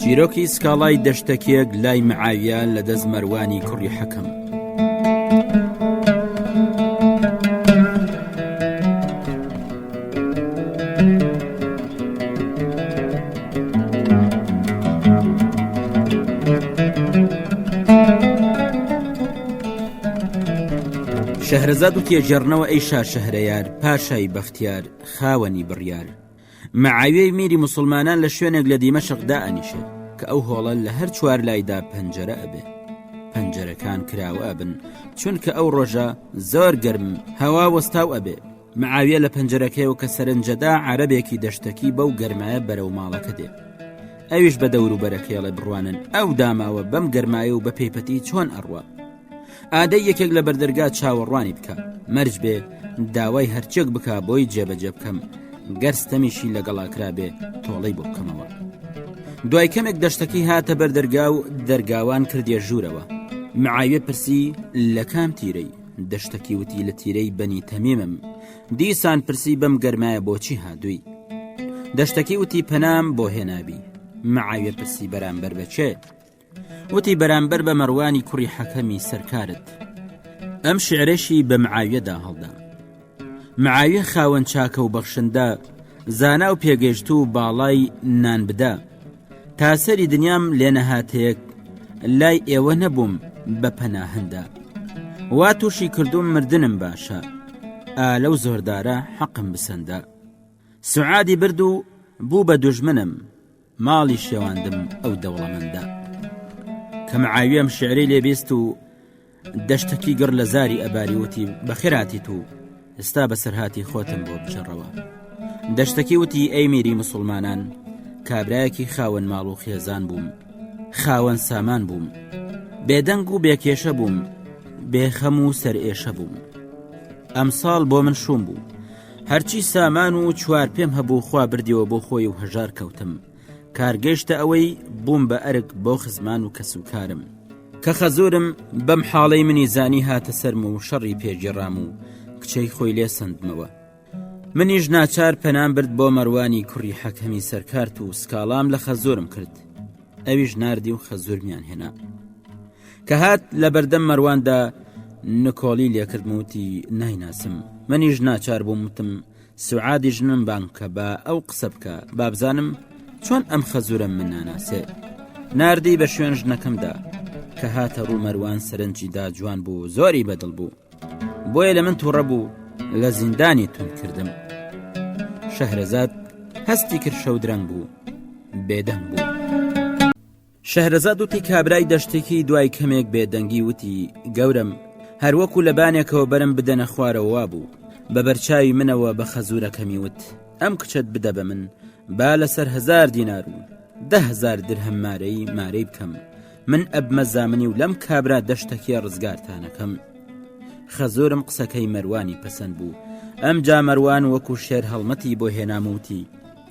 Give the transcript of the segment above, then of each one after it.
چیرۆکی سکاڵای دەشتەکێک لای معاویە لە دەست مەروانی کوڕی حەکەم شەهرەزاد و تێژێڕنەوە ئەی شار شەهرەیار پاشای بەختیار خاوەنی بڕیار معاویەی میری موسڵمانان لە شوێنێک لە دیمەشق دائەنیشێت کە ئەو هۆڵە لە هەر چوار لایدا پەنجەرە ئەبێ پەنجەرەکان کراوە ئەبن چونکە ئەو ڕۆژە زۆر گەرم هەوا وەستاو ئەبێ معاویە لە پەنجەرەکەیەوە کە سەرنجەدا عربێکی دەشتەکی بەو گەرمایە بەرەو ماڵەکە دێ ئەویش بە دەوروبەرەکەیڵێ بڕوانن ئەو داماوە بەم گەرمایە و بە پێیپەتی چۆن ئەڕوە ئادەی یەکێک لە بەردەرگا چاوەڕوانی بکە مەرج بێ داوای هەرچێک بک بۆی جێبەجێ بکەم گەرستەمیشی لەگەڵا کرابێ تۆڵەی بۆ بکەمەوە دوای کەمێک دەشتەکەی هاتە بەردەرگا و دەرگاوان کردێ ژوورەوە معاوێ پرسی لە کام تیرەی دەشتەکی وتی لە تیرەی بەنی تەمیمم دیسان پرسی بەم گەرمایە بۆچی هادووی دەشتەکی وتی پەنام بۆ هێنابی معاوێ پرسی بەرامبەر بەچێت وتی بەرامبەر بە مەڕوانی کوڕی حەکەمی سەرکارت ئەم شعرەشی بە معاویەدا هەڵدا معاویە خاوەن چاکە و بەخشندە زانا و پێگەشت و باڵای نان بدە تا سەری دنیام لێنەهاتەیەک لای ئێوە نەبووم بە پەناهندە وا تووشی کردوم مردنم باشە ئا لەو زۆردارە حەقم بسەندە سعادی برد و بوو بە دوژمنم ماڵی شێواندم ئەو دەوڵەمەندە کە معاویەم شعرەی لێبیست و دەشتەکی گڕ لە زاری ئەباریوتی بەخێراتی تو ئستا بەسەرهاتی خۆتم بۆ بجڕەوە دەشتەکی وتی ئەی میری مسلمانان کابراایەکی خاوەن ماڵ و خێزان بووم خاوەن سامان بووم بێدەنگ و بێکێشە بووم بێخەم و سەر ئێشە بووم ئەم ساڵ بۆ من شوم بوو هەرچی سامان و چوار پێم هەبوو خوا بردیەوە بۆ خۆی و هەژار کەوتم کارگەشتە ئەوەی بووم بە ئەرک بۆ خزمان و کەس و کارم کە خەزورم بەم حاڵەی منی زانی هاتە سەرم و شەڕی پێگیڕام و کچەی خۆی لێ سندمەوە منیش ناچار پەنام برد بۆ مەروانی کوڕی حەکەمی سەرکارت و سکاڵام لە خەزورم کرد ئەویش نردی و خەزورمیان هێنا کە هات لە بەردەم مەرواندا نکۆڵی لێکردم وتی نایناسم منیش ناچار بووم وتم سوعادی ژنم بان کە بە ئەو قسە بکە بابزانم چۆن ئەم خەزورە من ناناسێ نردی بە شوێن ژنەکەمدا کە هاتە ڕوو مەروان سەرنجیدا جوان بوو زۆری بەدڵ بوو بۆیە لە من تووڕە بوو لە زیندانی تون کردم شەهرەزاد هەستی کرد شەو درەنگ بوو بێدەنگ بوو. شەهرەزاد وتی کابرای دەشتەکی دوای کەمێک بێدەنگی وتی گەورم هەروەکو لە بانێکەوە بەرم بدەنە خوارەوە بوو بە بەرچاوی منەوە بە خەزورەکەمی وت ئەم کچەت بدە بە من با لەسەر هزار دینار و دههزار درهم مارەی مارەی بکەم من ئەبمە زامنی و لەم کابرا دەشتەکیە ڕزگارتانەکەم خەزۆرم قسەکەی مەروانی پەسەند بوو ئەم جامەروان وەکو شێر هەڵمەتی بۆ هێناموتی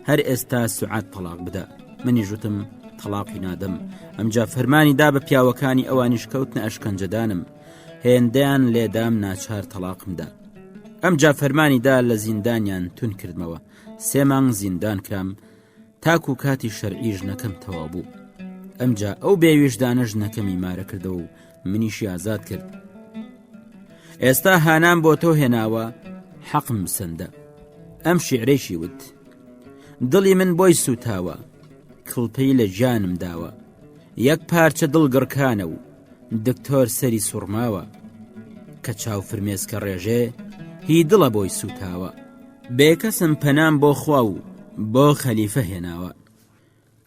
هەر ئێستا سعات تەلاق بدە منی ژوتم تەلاقی نادەم ئەمجا فەرمانی دا بە پیاوەکانی ئەوانیش کەوتنە ئەشکەنجەدانم هێندەیان لێدام ناچار تەلاقمدا ئەمجا فەرمانیدا لە زیندانیان تون کردمەوە سێ مانگ زیندان کرام تاکو کاتی شەرعیش نەکەم تەوا بوو ئەمجا ئەو بێویژدانە ژنەکەمی مارە کردەوە و منیشی ئازاد کرد ئێستا هانام بۆ تۆ هێناوە حەقم سندە ئەم شیعرێکی وت دڵی من بۆی سوتاوە کڵپەی لە جانم داوە یەک پارچە دڵگڕکانە و دکتۆر سەری سوڕماوە کە چاو فرمێسکە ڕێژێ هی دڵە بۆی سوتاوە بێکەسم پەنام بۆ خوا و بۆ خەلیفە هێناوە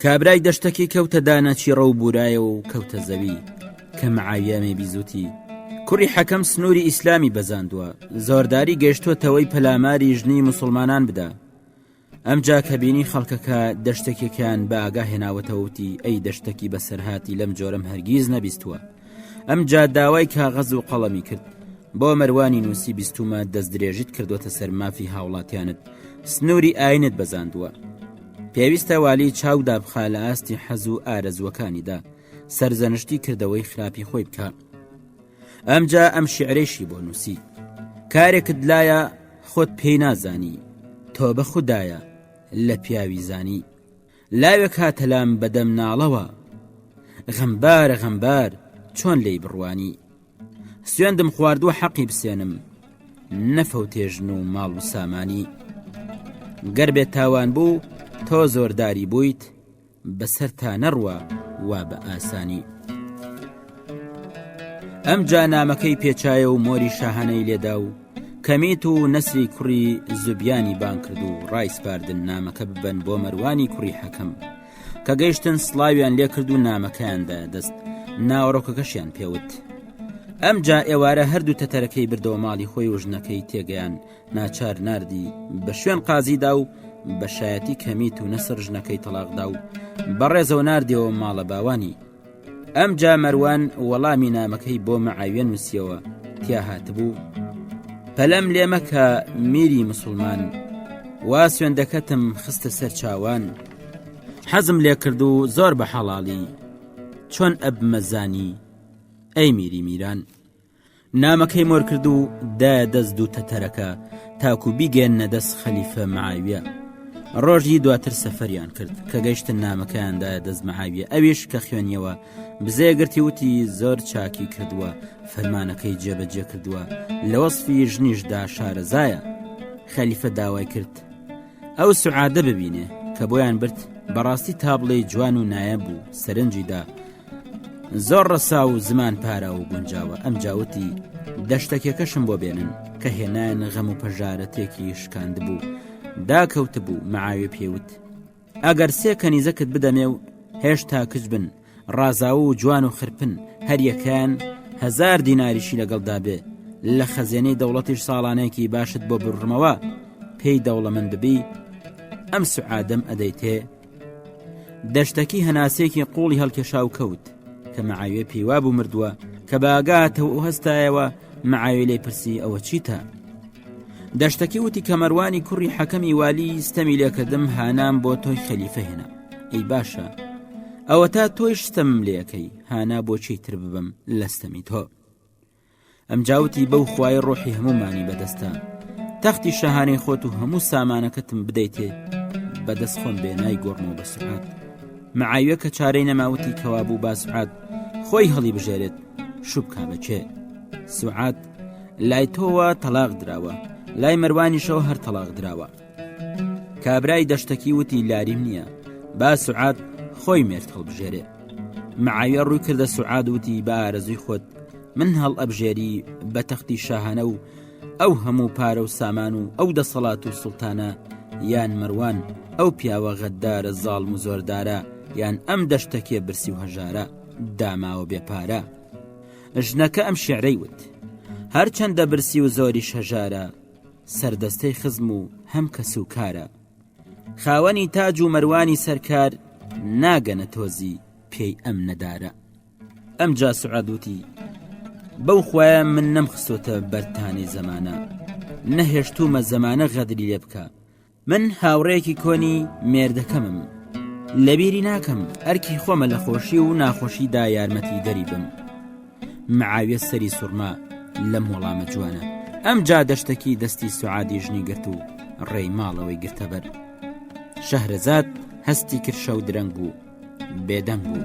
کابرای دەشتەکی کەوتە دانە چیڕە و بورایەوە و کەوتە زەوی کە معاویامێ بیزوتی کوڕی حەکەم سنووری ئیسلامی بەزاندووە زۆرداری گەشتوەتەوەی پەلاماری ژنی مسلمانان بدە ئەمجا کە بینی خەڵکەکە دەشتێکێکیان بە ئاگا هێناوەتەوتی ئەی دەشتەکی بەسەرهاتی لەم جۆرەم هەرگیز نەبیستووە ئەمجا داوای کاغەز و قەڵەمی کرد بۆ مەروانی نووسی بیستومە دەست درێژیت کردوتە سەر مافی هاوڵاتیانت سنووری ئاینت بەزاندووە پێویستە والی چاو دابخا لە ئاستی حەز و ئارەزوەکانیدا سەرزەنشتی کردەوەی خراپی خۆی بکە ئەمجا ئەم شعرێشی بۆ نووسی کارێکت لایە خۆت پێی نازانی تۆ بە خوددایە لە پیاوی زانی لاوێک هاتە لام بە دەم ناڵەوە غەمبارە غەمبار چۆن لێی بڕوانی سوێندم خواردووە حەقی بسێنم نەفەوتێژن و ماڵ و سامانی گەر بێت تاوان بوو تۆ زۆرداری بوویت بەسەر تا نەڕوە وا بە ئاسانی ئەم جا نامەکەی پێچایە و مۆری شاهانەی لێدا و کمیت و نسری کوڕی زوبیانی بانگ کرد و ڕایسپاردن نامەکە ببەن بۆ مەروانی کوڕی حەکەم کە گەیشتن سڵاویان لێکرد و نامەکەیاندا دەست ناوەڕۆکەکەشیان پێوت ئەمجا ئێوارە هەردوو تەتەرەکەی بردەوە ماڵی خۆی و ژنەکەی تێگەیان ناچار نردی بە شوێن قازیدا و بەشایەتی کەمیت و نەسر ژنەکەی تەلاقدا و بەڕێزەوە نردەوە ماڵە باوانی ئەمجا مەروان وەڵامی نامەکەی بۆ مەعاویە نووسیەوە تیا هاتبوو پەلەم لێ مەکە میری مسلمان وا سوێندەکەتم خستە سەر چاوان حەزم لێ کرد و زۆر بە حەڵاڵی چۆن ئەبمەزانی ئەی میری میران نامەکەی مۆر کرد و دایە دەست دوو تەتەرەکە تاکو بیگەێنە دەست خەلیفە معاویە ڕۆژی دواتر سەفەریان کرد کە گەشتن نامەکەیاندایە دەست معاویە ئەویش کە خوێنیەوە بزێگرتی وتی زۆر چاکی کردووە فەرمانەکەی جێبەجێ کردووە لە وەصفی ژنیشدا شارەزایە خەلیفە داوای کرد ئەو سعادە ببینێ کە بۆیان برد بەڕاستی تابڵێی جوان و نایە بوو سەرنجیدا زۆر ڕەسا و زمان پارا و گونجاوە ئەم جاوتی دەشتەکێکەشم بۆ بێنن کە هێنان غەم و پەژارە تێکی شکاند بوو داکەوت بوو معاوێ پێوت ئەگەر سێ کەنیزەکت بدەمێ و هێشتا کچ بن ڕازاو و جوان و خرپن هەریەکەیان هەزار دیناریشی لەگەڵدا بێ لە خەزێنەی دەوڵەتیش ساڵانێکی باشت بۆ بڕمەوە پێی دەوڵەمەند ببی ئەم سعادەم ئەدەیتێ دەشتەکی هەناسێکی قوڵی هەڵکێشا و کەوت کە مەعاوێ پیوا بوو مردووە کە باگاتەوە ئەو هەستایەوە مەعاوێ لێ پرسی ئەوە چیتە دەشتەکی وتی کە مەروانی کوڕی حەکەمی والی ستەمی لێکردم هانام بۆ تۆی خەلیفە هێنا ئەی باشە ئەوە تا تۆی شتم لەکەی هانا بۆچی تر ببم لەستەمی تۆ ئەم جاوتی بەو خوای ڕۆحی هەمومانی بەدەستە تەختی شەهانەی خۆت و هەموو سامانەکەتم بدەیتێ بەدەست خۆم بێ نای گۆڕمەوە بە سعات معاویە کە چارەی نەماوتی کەوا بوو باسعات خۆی هەڵی بژێرێت شوبکە بەچێ سعات لای تۆوە تەلاق دراوە لای مەروانیشەوە هەر تەلاق دراوە کابرای دەشتەکی وتی لاریم نییە با سعات خۆی مێرت هەڵبژێرێ معاویە ڕووی کردە سعاد وتی بارەزوی خۆت من هەڵ ئەبژێری بە تەختی شاهانە و ئەو هەموو پارە و سامان و ئەو دەسەڵات و سلتانە یان مەروان ئەو پیاوە غەددارە زاڵم و زۆردارە یان ئەم دەشتەکێ برسی و هەژارە داماوە بێ پارە. ژنەکە ئەم شیعرەی وت. هەرچەندە برسی و زۆریش هەژارە، سەردەستەی خزم و هەم کەسوکارە. خاوەنی تاج و مەروانی سەرکار، ناگەنە تۆزی پێی ئەم نەدارە. ئەمجا سوعاد وتی، بەو خوایە من نەمخستۆتە بەر تانەی زەمانە، نەهێشتوومە زەمانە غەدری لێ بکا، من هاوڕێکی کۆنی مێردەکەمم لەبیری ناکەم ئەرکی خۆمە لە خۆشی و ناخۆشیدا یارمەتی دەری بم معاویە سەری سوورما لەم وەڵامە جوانە ئەم جا دەشتەکی دەستی سوعادی ژنی گرت و ڕێی ماڵەوەی گرتەبەر شەهرەزاد هەستی کرشە و درەنگ بوو بێدەنگ بوو.